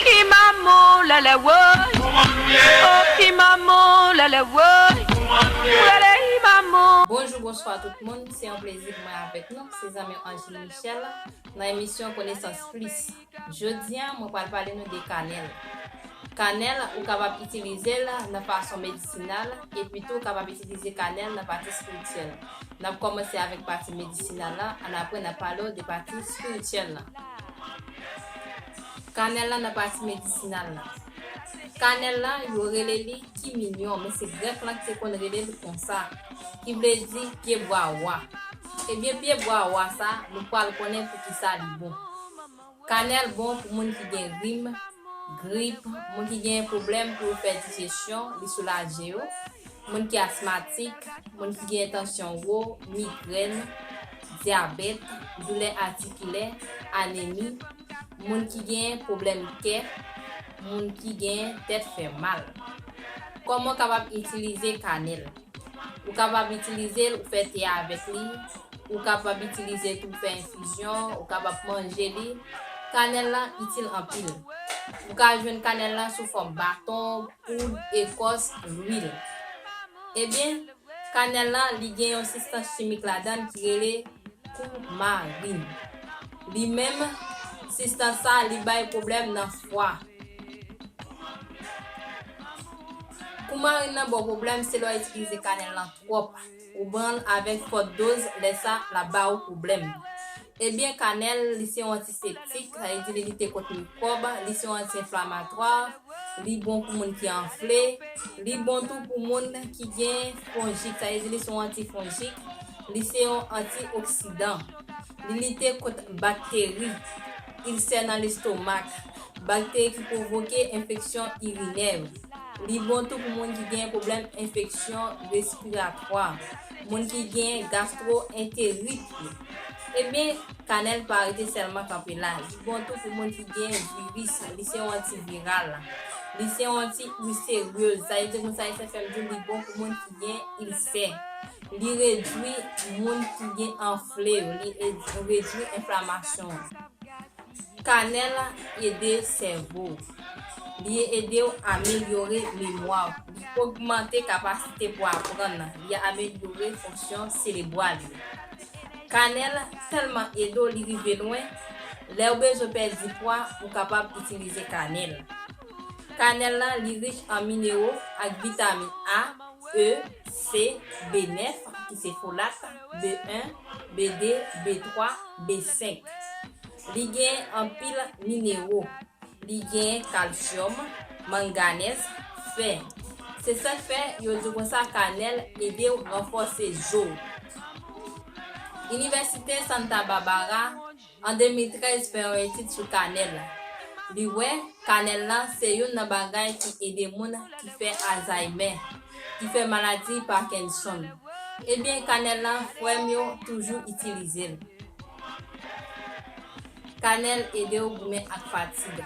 Ki manmou lèlè woy Kouman nou ye Oh ki manmou lèlè woy Kouman nou ye M rele hi manmou Bonjou bonswa tout moun se yon plezi pou mwen avèk nou se zanmi w Angeline Michel nan emisyon konesans plis jodi an mwen pral pale nou de kanèl kanèl ou kapab itilize l nan fason medisinal epi tou ou kapab itilize kanèl nan pati spirityèl N ap kòmanse avèk pati medisinal la, an apre n ap pale w de pati spirityèl la. Kanèl la nan pati medisinal la. Kanèl la, yo rele li kiminyon, men se Grèk lan ki te konn rele l konsa, ki vle di pye bwa wa. Ebyen pye bwa wa sa, nou pral konnen poukisa li bon. Kanèl bon pou moun ki gen rim, grip, moun ki genyen pwoblèm pou yo fè dijesyon, li soulaje yo, moun ki asmatik, moun ki genyen tansyon wo, migrèn, dyabèt, doulè atikilè, anemi, moun ki genyen pwoblèm kè, moun ki genyen tèt fè mal. Kòman w kapab itilize kanèl? Ou kapab itilize l ou fè te avèk li, ou kapab itilize tou fè enfizyon, ou kapab manje li. Kanèl lan itil anpil. Ou ka jwenn kanèl lan sou fòm baton, poud, ekòs, lwil. Ebyen, kanèl lan li gen yon sistans chimik ladan l ki rele koumarin. Li menm, sistans sa li bay pwoblèm nan fwa. Pou marin nan baw pwoblèm se lè wap itilize kanèl lan twòp ou banl avèk fòt doz lè sa lap ba ou pwoblèm ebyen kanèl li se yon antiseptik sa vle di li lite kont mikwòb li se yon anti enflamatwa li bon pou moun ki anfle li bon tou pou moun ki gen fonjit sa vle di li se yon anti fonjik li se yon anti oksidan li lite kont bakteri ilsè nan lestomak. Bakteri ki pwovoke enfeksyon irinè yo. Li bon tou pou moun ki gen pwoblèm enfeksyon respiratwa, moun ki gen gastwoenterit yo. Ebyen, kanèl pa rete sèlman kanpe la. Li bon tou pou moun ki gen viris, li se yon antiviral. Li se yon anti-ilseryeuz. Sa vle di konsa Esè fè m di w li bon pou moun ki gen ilsè. Li redwi moun ki gen anfle yo, li redwi enflamasyon an. Kanèl ede sèvo w. Li ede w amelyore memwa w. Li ogmante kapasite pou aprann. Li amelyore fonksyon serebwal yo. Kanèl tèlman ede w li rive lwen, lè w bezwen pèdi pwa ou kapab itilize kanèl. Kanèl lan li rich an minero ak vitamin A, E, C, B9, ki se folat, B1, B2, B3, B5. Li gen anpil minero. Li gen kalsyòm, manganèz, fè. Se sak fè yo di konsa kanèl ede w ranfòse zo w. Inivèsite Santa Barbara. An 2013 fè yon etid sou kanèl. Li wè kanèl la se youn nan bagay ki ede moun ki fè Alzaymè, ki fè maladi Pakenson. Ebyen kanèl la frè m yo toujou itilize l. Kanèl ede w goumen ak fatig.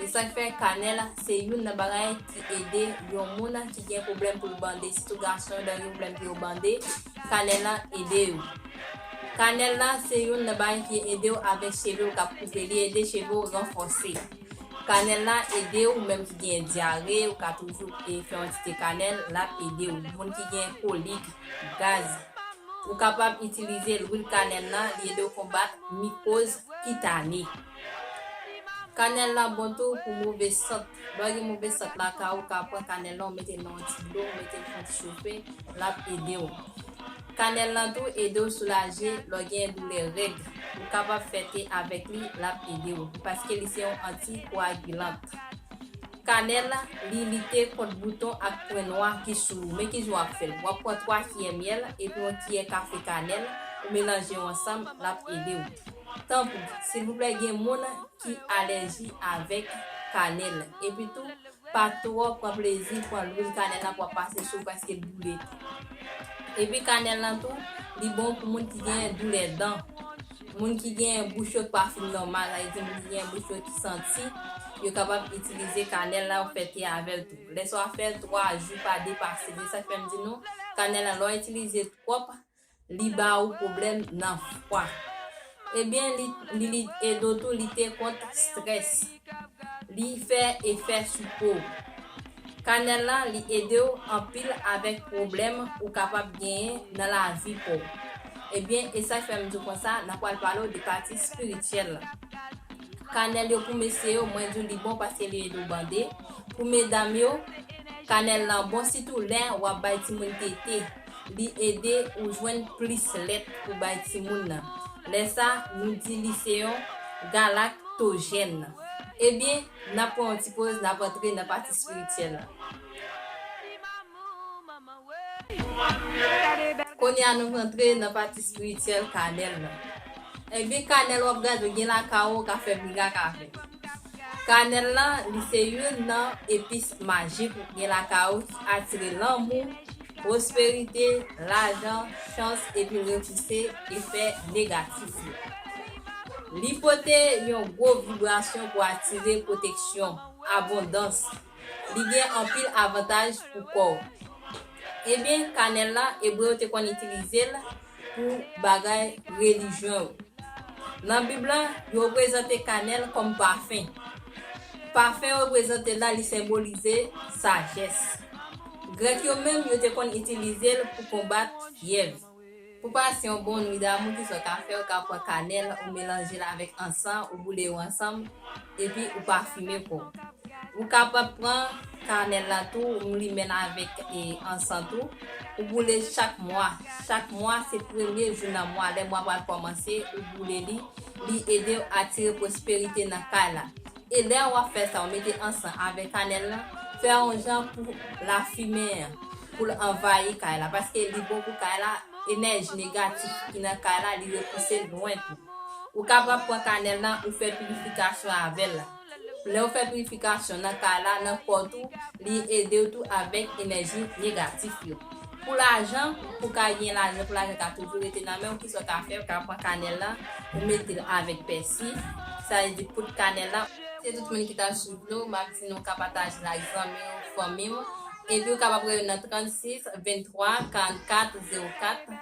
E sak fè kanèl se youn nan bagay ki ede yon moun ki gen pwoblèm pou l bande sitou gason yo dènye pwoblèm pou yo bande kanèl la ede yo. Kanèl la se youn nan bagay ki edew avèk chevew kap koupe li ede chevew ranfòse kanèl la ede ou menm ki gen dyare ou ka toujou e fè yon ti te kanèl lap ede ou moun ki gen kolik gaz ou kapab itilize lwil kanèl la li ede ou konbat mikoz kitane kanèl la bon tou pou move sant lè gen move sant lakay ou ka pran kanèl la ou metel nan yon ti dlo ou metel fon ti chofe lap ede ou. Kanèl lan tou edew soulaje lè w gen doulè règ, ou kapab fè te avèk li lap edew paske li se yon anti koagilant. Kanèl li lite kont bouton ak pwen nwa ki sou ou men kijan wap fèl wap pran 3 kiyè myèl epi yon kiyè kafe kanèl ou melanje yo ansanm lap edew. Tanpri silvouplè gen moun ki alèji avèk kanèl epi tou Pa twò pran plezi pran lwil kanèl la pou ap pase sou paske boule tou. Epi kanèl lan tou, li bon pou moun ki gen doulè dan, moun ki gen bouch yo k pa fin nòmal, sa vle di moun ki gen bouch yo ki santi, yo kapab itilize kanèl la yo fè te avè l tou. Lè sa w ap fè 3 jou pa depase l. Se sa k fè m di nou kanèl lan lè w itilize twòp Li ba ou pwoblèm nan fwa. Ebyen li ede w tou lite kont strès. Li fè efè sou po w. Kanèl la li ede w anpil avèk pwoblèm ou kapab genyen nan lavi pa w. Ebyen e sak fè m di w konsa nan pral pale w de pati espirityèl la. Kanèl yo pou mesye yo mwen di w li bon paske li ede w bande. Pou medam yo kanèl lan bon sitou lè wap bay timoun tete. li ede ou jwenn plis lèt pou bay timoun nan. Lè sa, nou di li se yon galaktojèn. Ebyen, n ap pran yon ti poz, n ap antre nan pati espirityèl la. Kounye a nou rantre nan pati espirityèl kanèl la. Ebyen, kanèl w ap gade ou gen lakay ou, ou ka fè brikak avè l. Kanèl la, li se youn nan epis majik ou gen lakay ou ki atire lanmou, Pwosperite, lajan, chans epi repouse efè negatif yo. Li pote yon gwo vibrasyon pou atire pwoteksyon, abondans. Li gen anpil avantaj pou kò w. Ebyen, kanèl la, Ebre yo te konn itilize l pou bagay relijyon yo. Nan Bib la, yo reprezante kanèl kòm pafen. Pafen reprezante la li senbolize sajès. Grèk yo menm yo te konn itilize l pou konbat fyèv. Pou pasyon bon, nwit damou ki sòt afè ou ka pran kanèl ou melanje l avèk ansan ou boule yo ansanm Epi ou pa fimen kò. Ou kapab pran kanèl la tou ou limenl avèk ansan tou, ou boule chak mwa, chak mwa se premye jou nan mwa lè mwa pral kòmanse ou boule li, li edew atire pwosperite nan kay la. E lè wap fè sa ou mete ansan avèk kanèl lan, fè yon jan pou lafimen an poul anvayi kay la paske li bon pou kay la, enèji negatif ki nan kay la li repousel lwen tou. Ou kapab pran kanèl nan ou fè pirifikasyon avèl la. Lèw fè pirifikasyon nan kay la, nan kò tou, li edew tou avèk enèji negatif yo. Pou lajan, pou ka gen lajan, pou lajan ka toujou rete nan menw, kisa w ka fè, ou ka pran kanèl lan, ou metel avèk pèsi, sa vle di poud kanèl la, se tout moun ki tap swiv nou, map di nou ka patajel ak zanmi ou, fanmi ou, epi ou kapab rele nan 36 23 44 04.